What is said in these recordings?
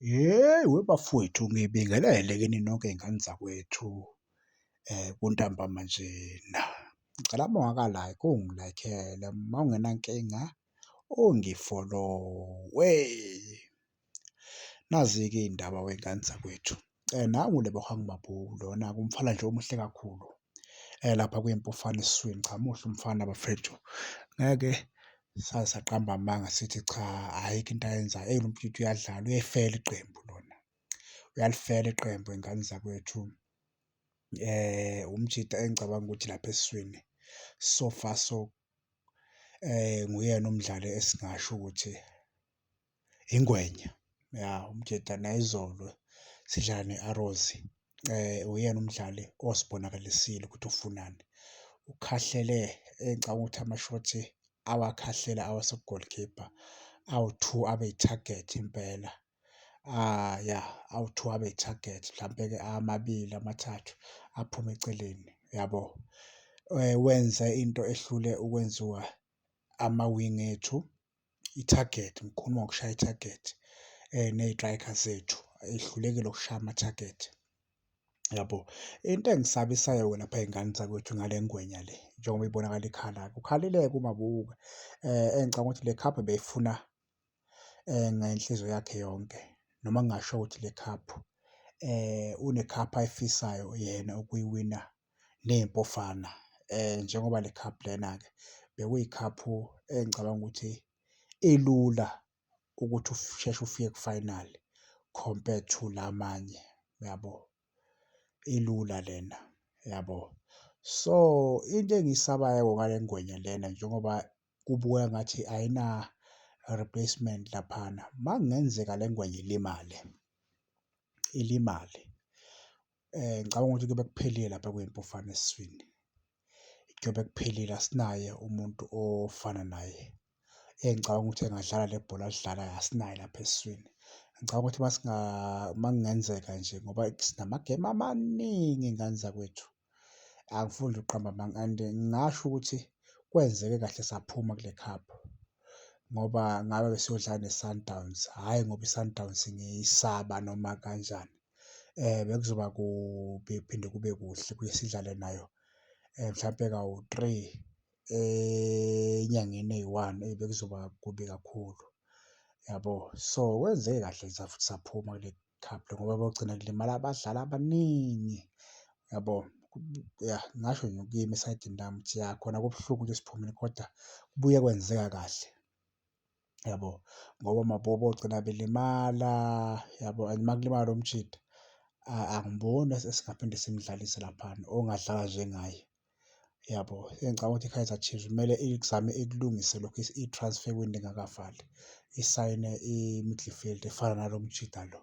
Hheyi webafwethu ngibingelele kini nonke iy'ngane zakwethu kuntambama njena. Ngicela uma ungaka-like ungi-like-ele uma ungenankinga ungi-follow-we. Nazi-ke iy'ndaba wey'ngane zakwethu, nangu lebohang mabhunu lona-ke umfana nje omuhle kakhulu. lapha kwimpi ufana esiswini. Cha muhle umfana bafethu ngeke saze saqamba amanga sithi cha ayikho into ayenzayo. Eyi lomfwethu uyadlala uyayifela iqembu lona uyalifela iqembu ngey'ngane zakwethu. Umjita engicabanga ukuthi lapha esiswini so far so nguyena umdlali esingasho ukuthi. ingwenya ya uMjeda nayizolo sidlala ne-Arrows uyena umdlali osibonakalisile ukuthi ufunani ukhahlele engicabanga ukuthi amashothi awakhahlela awase-goal keeper awu-two abe i-target impela. Ya awu-two abe i-target mhlampe-ke amabili amathathu aphume eceleni yabo. Wenze into ehlule ukwenziwa amawingi ethu ithagethi, ngikhuluma ngokushaya ithagethi ne-striker zethu ehlulekile ukushaya amathagethi yabo. Into engisabisayo lapha ey'ngane zakwethu ngale ngwenya le njengoba ibonakala ikhala kukhala ileke uMabuse engicabanga ukuthi le khaphu beyifuna ngenhliziyo yakhe yonke noma ngingasho ukuthi le khaphu unekhaphu ayifisayo yena ukuyiwina neMpofana njengoba le cup lena-ke bekuyikhaphu engicabanga ukuthi ilula ukuthi usheshe ufike ku-final compared to la amanye, uyabo? Ilula lena, uyabo? So, into engiyisabayo-ke ngale ngwenya lena njengoba kubukeka ngathi ayina-replacement laphana, uma kungenzeka le ngwenya ilimale, ilimale, Ngicabanga ukuthi kuyobe kuphelile lapha kuyimpofowane esiswini. Kuyobe kuphelile asinaye umuntu ofana naye engicabanga ukuthi engadlala le bhola alidlalayo asinaye lapha esiswini. Ngicabanga ukuthi uma singa uma kungenzeka nje ngoba sinamagemu amaningi ngane zakwethu. Angifuni nje ukuqamba amanga and ngingasho ukuthi kwenzeke kahle saphuma kule cup ngoba ngabe besiyodlala neSundowns, hhayi ngoba iSundowns ngiyisaba noma kanjani. bekuzoba kubi kuphinde kube kuhle ukuthi sidlale nayo mhlampe kawu-three enyangeni eyi-one eyi bekuzoba kubi kakhulu yabo. So, kwenze kahle nje safuthi saphuma kule cup le ngoba kogcina kulimala abadlali abaningi yabo. Ya ngingasho nje kimi esayidini lami ukuthi ya khona kubuhlungu ukuthi siphumile koda kubuye kwenzeka kahle. yabo ngoba mabobo ogcina belimala yabo and uma kulimala lo mjita angiboni esingaphinde simdlalise laphana ongadlala njengaye yabo. Engicabanga ukuthi i-Kaizer Chiefs kumele izame ikulungise lokhu i-transfer window ingakavali isayine i-midfield efana nalo mjita lo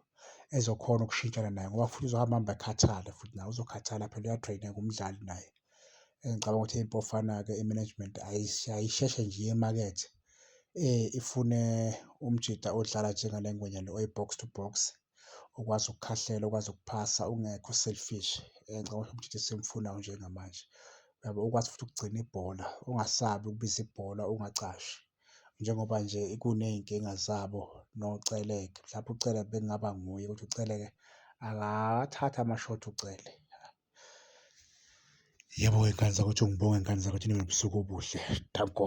ezokhona ukushintshana naye ngoba futhi uzohamba ahambe akhathale futhi naye uzokhathala phela uya-train-eka umdlali naye. engicabanga ukuthi iBofana-ke i-management ayisheshe nje iye emakethe ifune umjita odlala njengale ngwenya le oyi-box to box, okwazi ukukhahlela, okwazi ukuphasa, ongekho selfish. Ngicabanga ukuthi umjita esimfunayo njengamanje uyabo, okwazi futhi ukugcina ibhola, ongasabi ukubiza ibhola, ongacashi njengoba nje kuney'nkinga zabo noCele. Mhlawumbe uCele bekungaba nguye ukuthi uCele-ke akawathathi ama-short uCele. Yebo ngey'ngane zakwethu ngibonge ngane zakwethu nibe nobusuku obuhle. Danko.